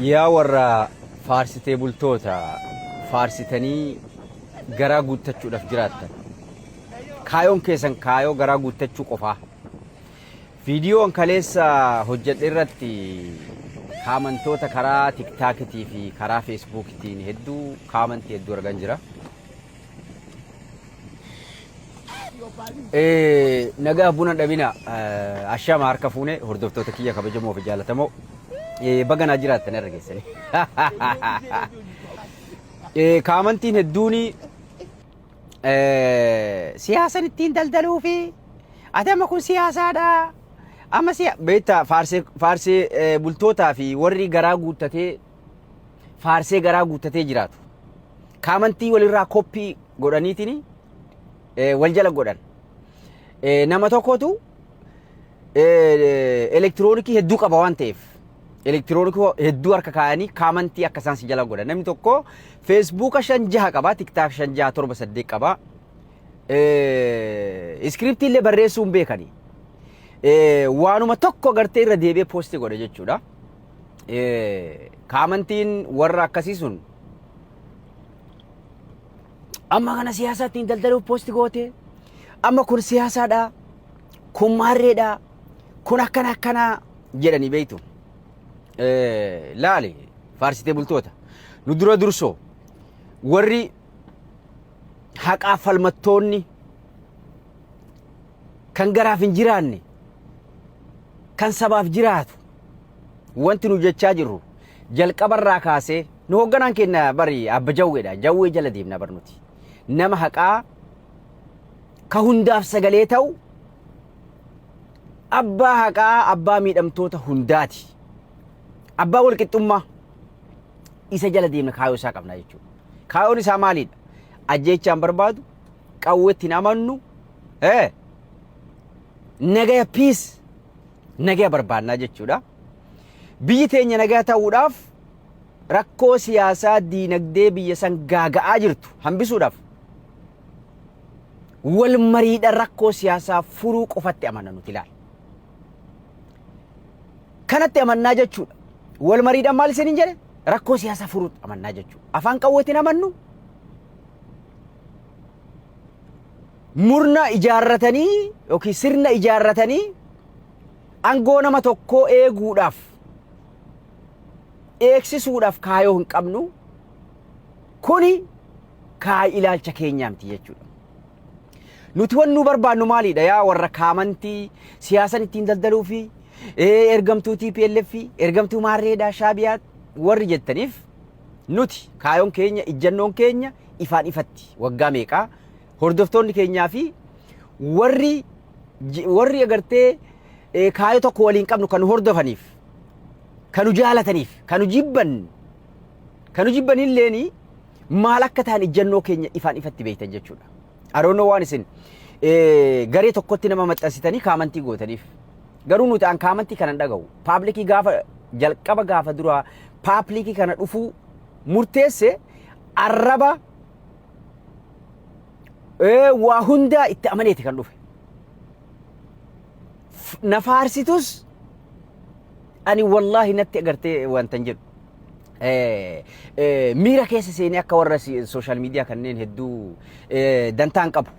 Yaa warra faarsitee bultoota faarsitanii garaa guuttachuudhaaf jiraattan. Kaayoon keessan kaayoo garaa guuttachuu qofaa. Viidiyoon kaleessa hojjedhe irratti kaamantoota karaa tiktaakitii fi karaa feesbuukitiin hedduu kaamantii hedduu argan jira. Nagaa buna dhabina ashama harka fuune hordoftoota kiyya kabajamoo fi jaallatamoo baga naa jiraattan irra geessanii. Kaamantiin hedduun siyaasan ittiin daldaluu fi adama kun siyaasaadha. Amma siya beektaa faarsee bultootaa fi warri garaa guuttatee faarsee garaa guuttatee jiraatu. Kaamantii walirraa koppii godhaniitiin wal jala godhan. Nama tokkotu elektiroonikii hedduu qaba waan ta'eef elektiroonikii hedduu harka kaayanii kaamantii akka isaan si jala godhan. Namni tokko feesbuuka shan jaha qaba, tiktaak shan jaha torba saddeet qaba. Iskiriptii illee barreessuu hin beekani. Waanuma tokko gartee irra deebi'ee poosti godha jechuudha. kaamantiin warra akkasii sun amma kana siyaasaa ittiin daldaluuf poosti goote amma kun siyaasaadha kun maarreedha kun akkana akkanaa jedhanii beektu laali faarsitee bultoota nu dura dursoo warri haqaa falmattoonni kan garaaf hin jiraanne kan sabaaf jiraatu Wanti nu jechaa jirru jalqabarraa kaasee nu hoogganaan keenya bari abba jawweedha. Jawwee jala deemna bar nuti. Nama haqaa ka hundaaf sagalee ta'u abbaa haqaa abbaa miidhamtoota hundaati. Abbaa walqixxummaa isa jala deemna kaayoo isaa qabna jechuudha. Kaayoon isaa maalidha? Ajjeechaan barbaadu, qawweetti hin amannu, eh, nagaya piis nagaya barbaannaa jechuudha. Biyyi teenya nagaa ta'uudhaaf rakkoo siyaasaa diinagdee biyya san gaaga'aa jirtu hambisuudhaaf wal mariidha rakkoo siyaasaa furuu qofatti amanna nuti ilaala. Kanatti amannaa jechuudha. Wal mariidhaan maal isiniin jedhe rakkoo siyaasaa furuu amannaa jechuudha. Afaan qawweetiin amannu Murna ijaarratanii yookiin sirna ijaarratanii angoo nama tokkoo eeguudhaaf eegsisuudhaaf kaayoo hin qabnu kuni kaay ilaalcha keenyaa miti jechuudha. Nuti wan nu barbaannu maalidha yaa warra kaamantii siyaasan ittiin daldaluu fi ergamtuu TPLF ergamtuu maarreedhaa shaabiyaa warri jettaniif nuti kaayoon keenya ijjannoon keenya ifaan ifatti waggaa meeqaa Hordoftoonni keenyaa fi warri warri agartee kaayoo tokko waliin qabnu kan hordofaniif kan jaalataniif kan jibban kan jibban illeen maal akka ta'an ijjannoo keenya ifaan ifatti beektan jechuudha. Aroonoo waan isin garee tokkotti nama maxxansitanii kaamantii gootaniif garuu nuti an kaamantii kana dhaga'u paablikii gaafa jalqaba gaafa duraa paablikii kana dhufuu murteesse arraba Ee, waa hundaa itti amaneeti kan dhufe. F- Na faarsitus ani wallaahi natti agartee wantan jedhu. Eh, eh, miira keessa seenee akka warra sooshaal miidiyaa kanneen hedduu eh, dantaan qabu.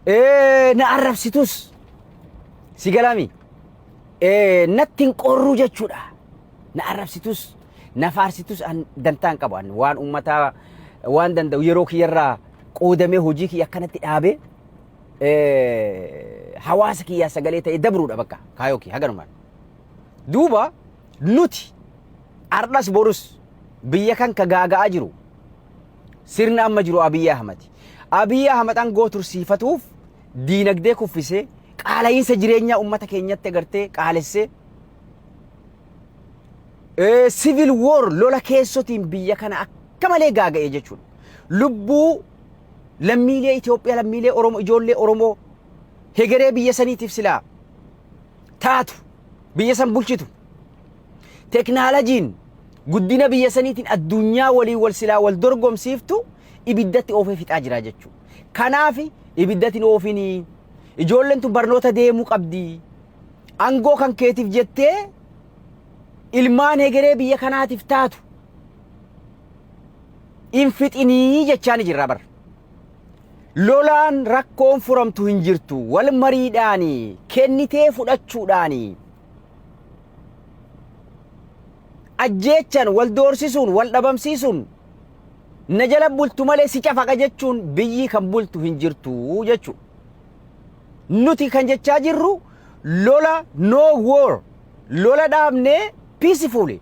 Eh, na arrabsitus si galaami. Eh, natti hin qorruu jechuudha. Na arrabsitus na faarsitus an dantaa hin qabu an waan uummataa waan danda'u yeroo kiyyarraa qoodamee hojii kiyya akkanatti dhaabee eh, hawaasa kiyyaa sagalee ta'ee dabruudha bakka kaayoo kiyya haganumaan. Duuba nuti ardhas borus biyya kan ka gaaga'aa jiru sirna amma jiru Abiyyi Ahmad. Abiyyi Ahmad aangoo tursiifatuuf diinagdee kuffisee qaala'iinsa jireenyaa uummata keenyatti agartee qaalessee Sivil woor lola keessotiin biyya kana akka malee gaaga'e jechuudha. Lubbuu lammiilee Itoophiyaa, lammiilee Oromoo, ijoollee Oromoo hegeree biyya saniitiif silaa taatu biyya san bulchitu. Teknaalajiin guddina biyya saniitiin addunyaa waliin wal silaa wal dorgomsiiftu ibiddatti oofee fixaa jira jechuudha. Kanaaf ibiddatti hin oofinii ijoolleen tun barnoota deemuu qabdi. Angoo kan keetiif jettee ilmaan hegeree biyya kanaatiif taatu hin fixinii jechaani jirra bar. Lolaan rakkoon furamtu hin jirtu wal mariidhaani kennitee fudhachuudhaani ajjeechan wal doorsisuun wal dhabamsiisuun na jala bultu malee si cafaqa jechuun biyyi kan bultu hin jirtu jechuudha. Nuti kan jechaa jirru lola no war lola dhaabnee peacefully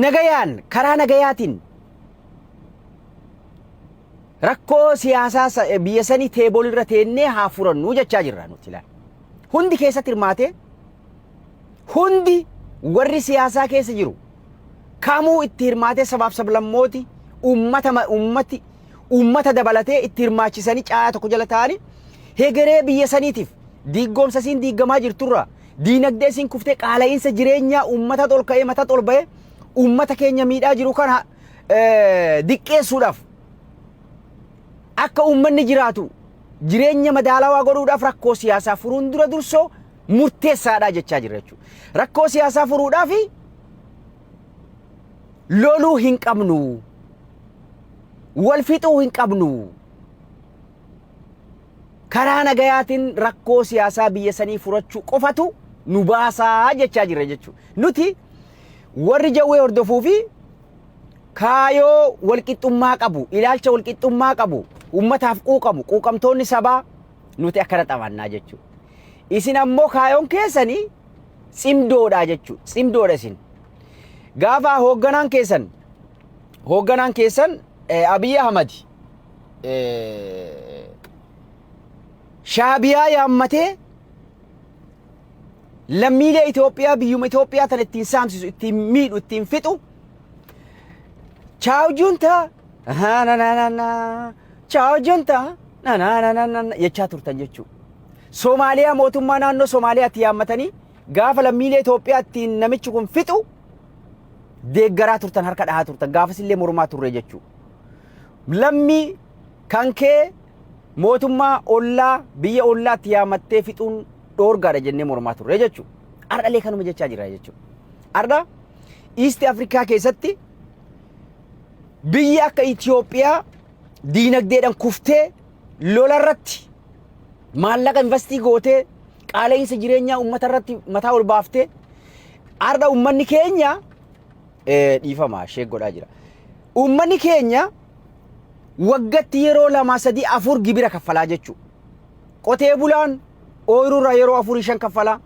nagayaan karaa nagayaatiin rakkoo siyaasaa sa- biyya sanii teeboolirra teennee haa furannuu jechaa jirra nuti laal. Hundi keessatti hirmaatee Hundi warri siyaasaa keessa jiru kamuu itti hirmaatee sabaaf sablammooti uummata ma- uummati uummata dabalatee itti hirmaachisanii caayaa tokko jala taa'anii hegeree biyya saniitiif diiggoomsa isiin diiggamaa jirturraa diinagdee isiin kuftee qaala'iinsa jireenyaa uummata ol ka'ee mata ol ba'ee uummata keenya miidhaa jiru kana eh, diqqeessuudhaaf akka uummanni jiraatu jireenya madaalawaa godhuudhaaf rakkoo siyaasaa furuun dura dursoo murteessaadhaa jechaa jirra jechuudha. Rakkoo siyaasaa furuudhaaf loluu hin qabnu. Wal fixuu hin qabnu. Karaa nagayaatiin rakkoo siyaasaa biyya sanii furachuu qofatu nu baasaa jechaa jirra jechuudha. Nuti warri jawwee hordofuu fi kaayoo walqixxummaa qabu, ilaalcha walqixxummaa qabu, uummataaf quuqamu, quuqamtoonni sabaa nuti akkana xabannaa jechuudha. Isin ammoo kaayoon keessanii tsimdoodha jechuudha. Tsimdoodha isin. Gaafa hoogganaan keessan hoogganaan keessan eh, Abiy Ahmad eh, shaabiyaa yaammatee lammiilee Itoophiyaa biyyuma Itoophiyaa tan ittiin saamsisu, ittiin miidhu, ittiin fixu Chaaw junta. Na na na na na. Chaaw junta. nananananana jechaa turtan jechuu. Somaaliyaa mootummaa naannoo Somaaliyaatti yaammatanii gaafa lammiilee Itoophiyaatti namichi kun fixu deeggaraa turtan harka dhahaa turtan gaafasillee mormaa turre jechuu. Lammii kan kee mootummaa ollaa biyya ollaatti yaamattee fixuun dhoorgaadha jennee mormaa turre jechuu. Ardhalee kanuma jechaa jira jechuu. Ardha Iisti Afrikaa keessatti biyyi akka Itoophiyaa diinagdeedhaan kuftee lola irratti maallaqa investii gootee qaala'insa jireenyaa uummata irratti mataa ol baaftee har'a uummanni keenya eh, dhiifama ishee godhaa jira. Uummanni keenya waggatti yeroo lama sadii afur gibira kaffalaa jechuudha. Qotee bulaan ooyiruurraa yeroo afurii shan kaffalaa.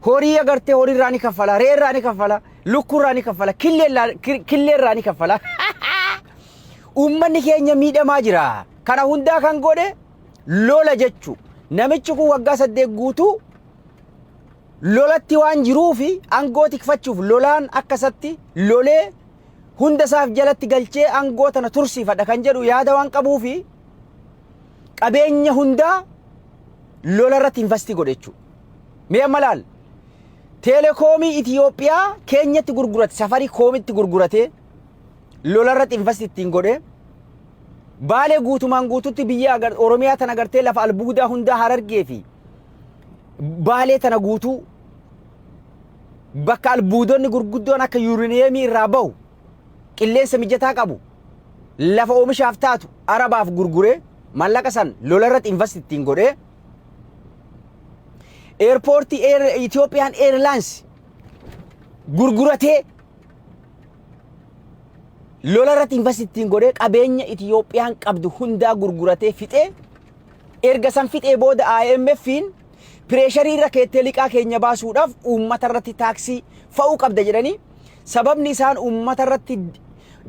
Horii agartee horii irraa ni kaffala, re'ee irraa ni kaffala, lukkuu irraa ni kaffala, killee irraa- ki- killee irraa ni kaffala. Uummanni keenya miidhamaa jira. Kana hundaa kan godhe lola jechu. Namichi kun waggaa saddeet guutuu lolatti waan jiruu fi aangoo tikfachuuf lolaan akka isatti lolee hunda isaaf jalatti galchee aangoo tana tursiifadha kan jedhu yaada waan qabuu fi qabeenya hundaa lola irratti investi godhe jechuudha. Mee amma laal. Teelekoomii Itiyoophiyaa keenyatti gurgurate safarii koomitti gurguratee lolarratti invasti ittiin godhee baalee guutumaan guututti biyya agar- Oromiyaa tana gartee lafa albuudaa hundaa harargee fi baalee tana guutuu bakka albuudonni gurguddoon akka yuuriniyeemii irraa bahu qilleensa mijataa qabu lafa oomishaaf taatu arabaaf gurguree mallaqa san lolarratti invasti ittiin godhee Eerpoortii Eer- Itoophiyaan Eerlaayins gurguratee lola irratti investitiin godhee qabeenya Itoophiyaan qabdu hundaa gurguratee fixee erga san fixee booda IMF'n pireesharii irra keettee liqaa keenya baasuudhaaf uummata irratti taaksii fa'uu qabda jedhanii Sababni isaan uummata irratti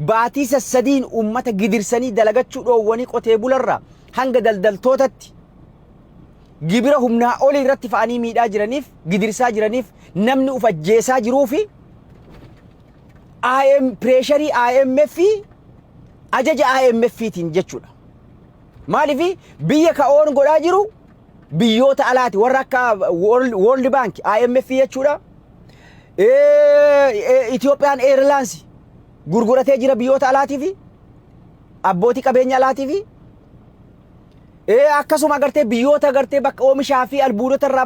baatii sassadiin uummata gidirsanii dalagachuu dhoowwanii qotee bularraa hanga daldaltootatti gibira humnaa olii irratti fa'anii miidhaa jiraniif gidirsaa jiraniif namni uf ajjeesaa jiruu fi IM pireesharii IMF fi ajaja IMF tiin jechuudha. Maaliif biyya ka'oon godhaa jiru biyyoota alaati warra akka World Bank, IMF jechuudha. Itoophiyaan Airlines gurguratee jira biyyoota alaatii fi abbootii qabeenya alaatii fi akkasuma agartee biyyoota agartee bakka oomishaa fi albuudota irraa